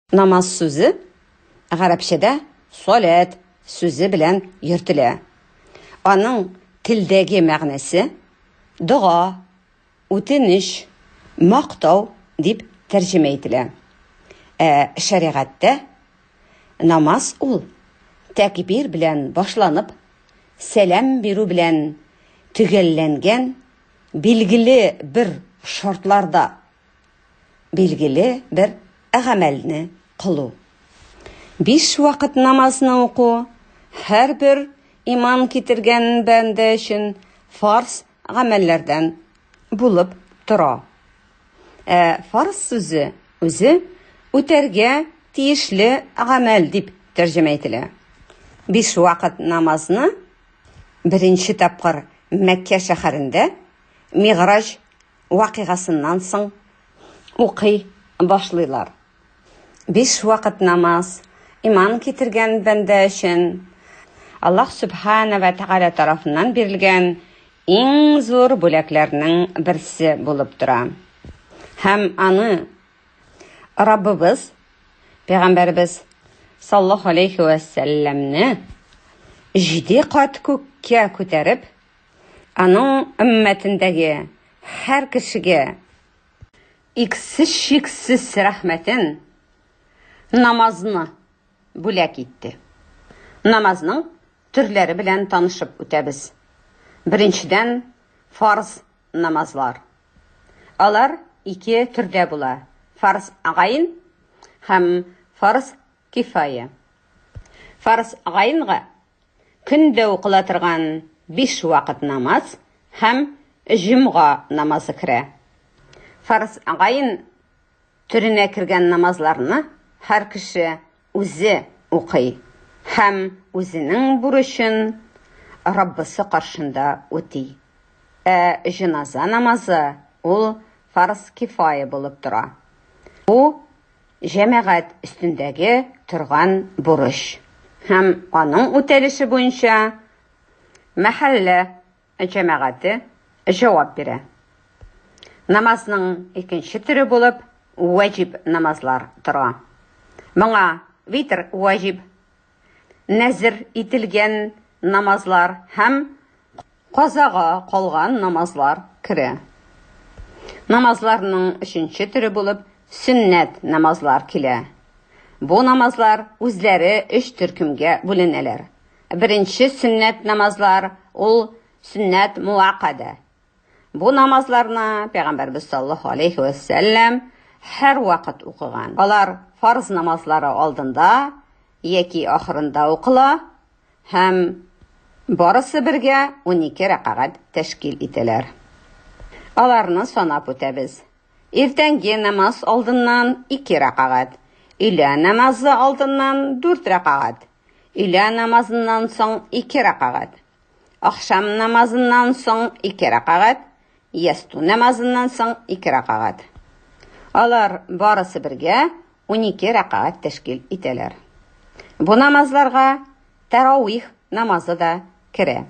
Намаз сүзе гарәпчәдә саләт сүзе белән йөртелә. Аның телдәге мәгънәсе дога, үтенеч, мактау дип тәрҗемә ителә. Ә шәригатьтә намаз ул тәкбир белән башланып, сәлам бирү белән төгәлләнгән, билгеле бер шартларда Билгеле бер гамәлне кылу. Биш вакыт намазны уку һәрбер иман китергән бәндә өчен фарз гамәлләрдән булып тора. Ә фарз сүзе үзе үтәргә тиешле гамәл дип тәрҗемә ителә. Биш вакыт намазны беренче тапкыр Мәккә шәһәрендә Миграҗ вакыйгасыннан соң укый башлыйлар. Биш вакыт намаз, иман китергән бәндә өчен Аллаһ Сүбхәнә вә Тәгалә тарафыннан бирелгән иң зур бүләкләрнең берсе булып тора. Һәм аны Раббыбыз, Пәйгамбәрбез саллаллаһу алейхи вә сәлләмне җиде кат күккә күтәреп, Аның өммәтендәге һәр кешегә иксез-чиксез рәхмәтен, намазны бүләк итте. Намазның төрләре белән танышып үтәбез. Беренчедән, фарз намазлар. Алар ике төрдә була, фарз гайн һәм фарз кифая. Фарз гайнга Көндә укыла торган биш вакыт намаз һәм җомга намазы керә. Фарз гайн төренә кергән намазларны һәр кеше үзе укый һәм үзенең бурычын Раббысы каршында үти. Ә җеназа намазы ул фарз кифая булып тора. Бу җәмәгать өстендәге торган бурыч һәм аның үтәлеше буенча мәхәллә җәмәгате җавап бирә. Намазның икенче төре булып вәҗиб намазлар тора. Моңа витр вәҗиб, нәзер ителгән намазлар һәм казага калган намазлар керә. Намазларның өченче төре булып сөннәт намазлар килә. Бу намазлар үзләре өч төркемгә бүленәләр. Беренче сөннәт намазлар ул сөннәт муаккадә, Бу намазларны Пәйгамбәрбез саллаллаһу алейхи вә сәлләм һәрвакыт укыган. Алар фарз намазлары алдында яки ахырында укыла һәм барысы бергә 12 рәкагать тәшкил итәләр. Аларны санап үтәбез. Иртәнге намаз алдыннан 2 рәкагать, өйлә намазы алдыннан 4 рәкагать, өйлә намазыннан соң 2 рәкагать, Ахшам намазыннан соң ике рәкагать, ясту намазыннан соң ике рәкагать. Алар барысы бергә унике рәкагать тәшкил итәләр. Бу намазларга тәрауих намазы да керә.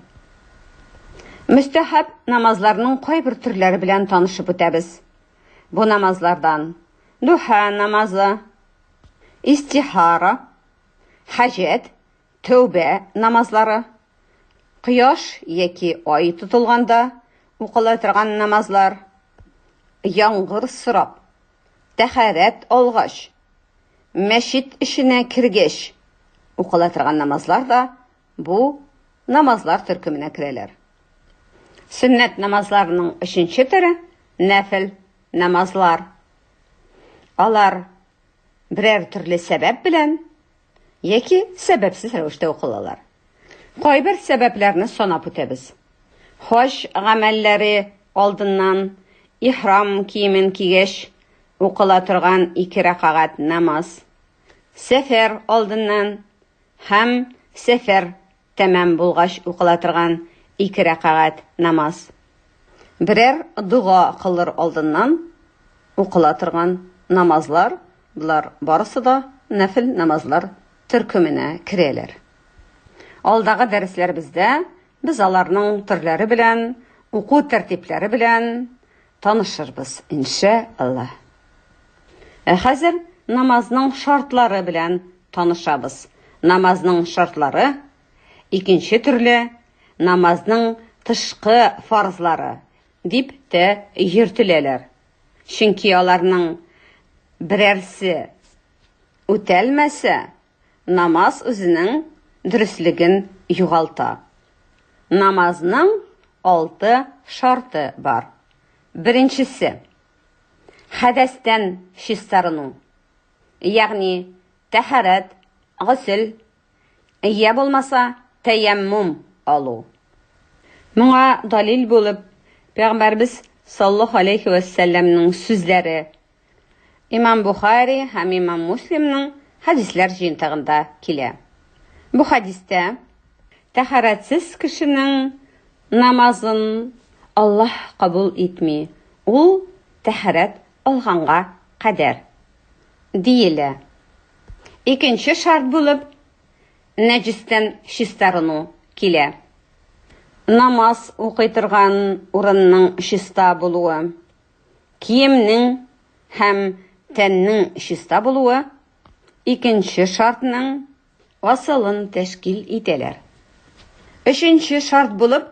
Мөстәхәб намазларның кайбер төрләре белән танышып үтәбез. Бу намазлардан духа намазы, истихара, хаҗәт Тәүбә намазлары, кояш яки ай тотылганда укыла торган намазлар, яңгыр сорап, тәһарәт алгач, мәчет эченә кергәч укыла торган намазлар да бу намазлар төркеменә керәләр. Сөннәт намазларының өченче төре, нәфел намазлар. Алар берәр төрле сәбәп белән яки сәбәпсез рәвештә укылалар. Кайбер сәбәпләрне санап үтәбез. Хаҗ гамәлләре алдыннан ихрам киемен кигәч укыла торган ике рәкагать намаз, сәфәр алдыннан һәм сәфәр Тәмам булгач укыла торган ике рәкагать намаз. Берәр дога кылыр алдыннан укыла торган намазлар, болар барысы да нәфел намазлар төркеменә керәләр. Алдагы дәресләребездә без аларның төрләре белән, уку тәртипләре белән, Танышырбыз, иншә Аллаһ. Ә хәзер намазның шартлары белән танышабыз. Намазның шартлары, икенче төрле намазның тышкы фарзлары дип тә йөртеләләр. Чөнки аларның берәрсе үтәлмәсә, Намаз үзенең дөреслеген югалта. Намазның алты шарты бар. Беренчесе, хәдәстән чистарыну. Ягъни, тәһарәт, госел, йә булмаса, тәяммум алу. Моңа далил булып, Пәйгамбәрбез саллаллаһу алейхи вәссәламнең сүзләре Имам Бухари һәм Имам Муслимның хәдисләр җыентыгында килә. Бу хәдистә тәһарәтсез кешенең намазын Аллаһ кабул итми, ул тәһарәт алганга кадәр, диелә. Икенче шарт булып нәҗестән чистарыну килә. Намаз укый торган урынның чиста булуы. Киемнең һәм тәннең чиста булуы икенче шартның асылын тәшкил итәләр. Өченче шарт булып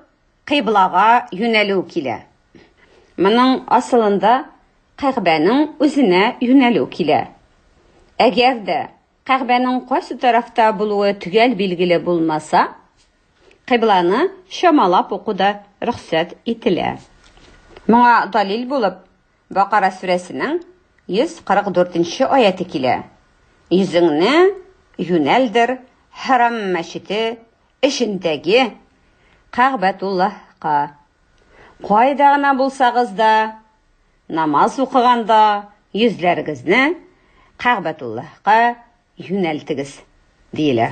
кыйблага юнәлү килә. Моның асылында Кәгъбәнең үзенә юнәлү килә. Әгәр дә Кәгъбәнең кайсы тарафта булуы төгәл билгеле булмаса, кыйбланы чамалап уку да рөхсәт ителә. Моңа далил булып Бакара сүрәсенең 144 нче аяте килә, Йөзеңне юнәлдер Хәрам мәчете эчендәге Кәгъбәтуллаһка. Кайда гына булсагыз да, Намаз укыганда йөзләрегезне Кәгъбәтуллаһка юнәлтегез, диелә.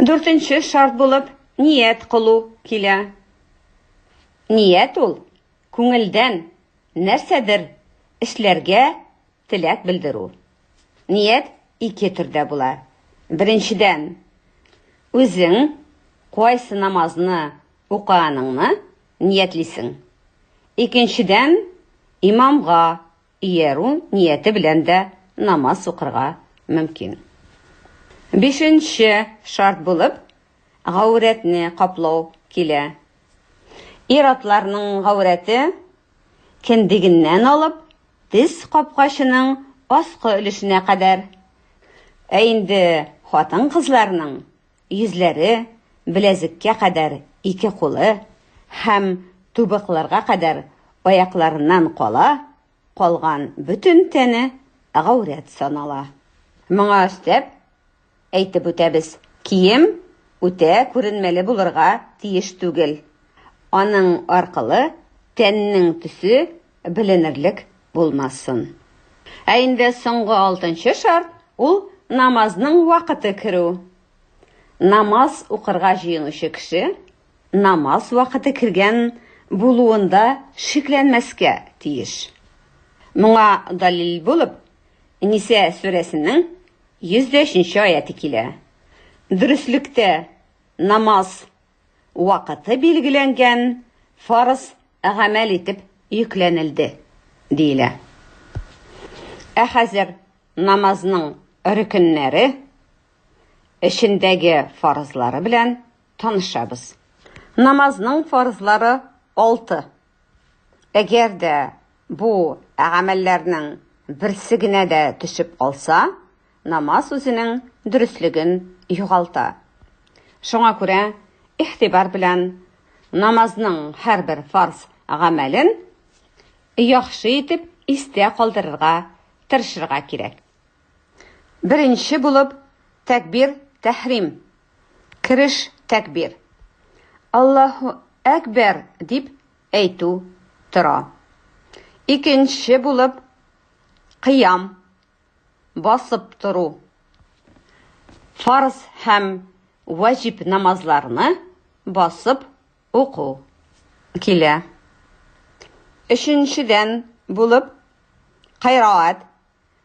Дүртенче шарт булып ният кылу килә. Ният ул күңелдән нәрсәдер эшләргә теләк белдерү. Ният ике төрдә була. Беренчедән, үзең кайсы намазны укыганыңны ниятлисең. Икенчедән, имамга иярү нияте белән дә намаз укырга мөмкин. Бишенче шарт булып, гаурәтне каплау килә. Ир-атларның гаурәте кендегеннән алып, тез капкачының аскы өлешенә кадәр. Ә инде хатын-кызларның Йөзләре, беләзеккә кадәр ике кулы һәм тубыкларга кадәр аякларыннан кала, калган бөтен тәне гаурәт санала. Моңа өстәп, әйтеп үтәбез, кием үтә күренмәле булырга тиеш түгел. Аның аркылы тәннең төсе Беленерлек булмасын. Ә инде соңгы алтынчы шарт, ул намазның вакыты керү. Намаз укырга җыенучы кеше намаз вакыты кергән булуында шикләнмәскә тиеш. Моңа далил булып, Ниса сүрәсенең 105 нче аяты килә. Дөреслектә намаз вакыты билгеләнгән фарыз гамәл итеп йөкләнелде, диелә. Ә хәзер намазның рөкеннәре, эчендәге фарызлары белән танышабыз. Намазның фарызлары алты. Әгәр дә бу гамәлләрнең берсе генә дә төшеп калса, намаз үзенең дөреслеген югалта. Шуңа күрә игътибар белән намазның һәрбер фарз гамәлен яхшы итеп истә калдырырга тырышырга кирәк. Беренче булып тәкбир тәхрим. Кереш тәкбир. Аллаһу әкбәр дип әйтү тора. Икенче булып кыям басып тору. Фарз һәм ваҗиб намазларны басып уку килә. Өченчедән булып кайраат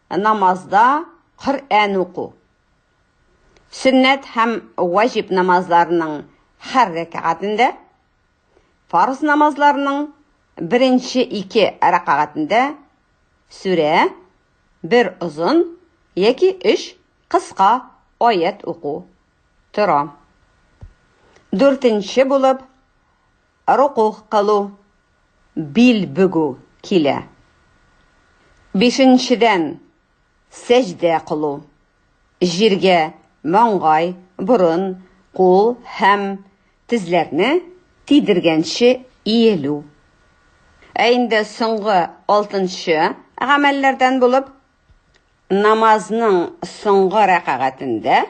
намазда Коръән уку. Сөннәт һәм ваҗиб намазларының һәр рәкәгатендә, фарз намазларының беренче ике рәкәгатендә сүрә, бер озын яки өч кыска аять уку тора. Дүртенче булып Рокугъ кылу, бил бөгү килә. Бишенчедән, сәҗдә кылу, җиргә маңгай, борын, кул һәм тезләрне тидергәнче иелү. Ә инде соңгы алтынчы гамәлләрдән булып, намазның соңгы рәкагатендә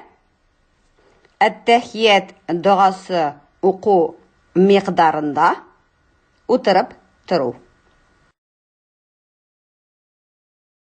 Әттәхият догасы уку микъдарында утырып тору.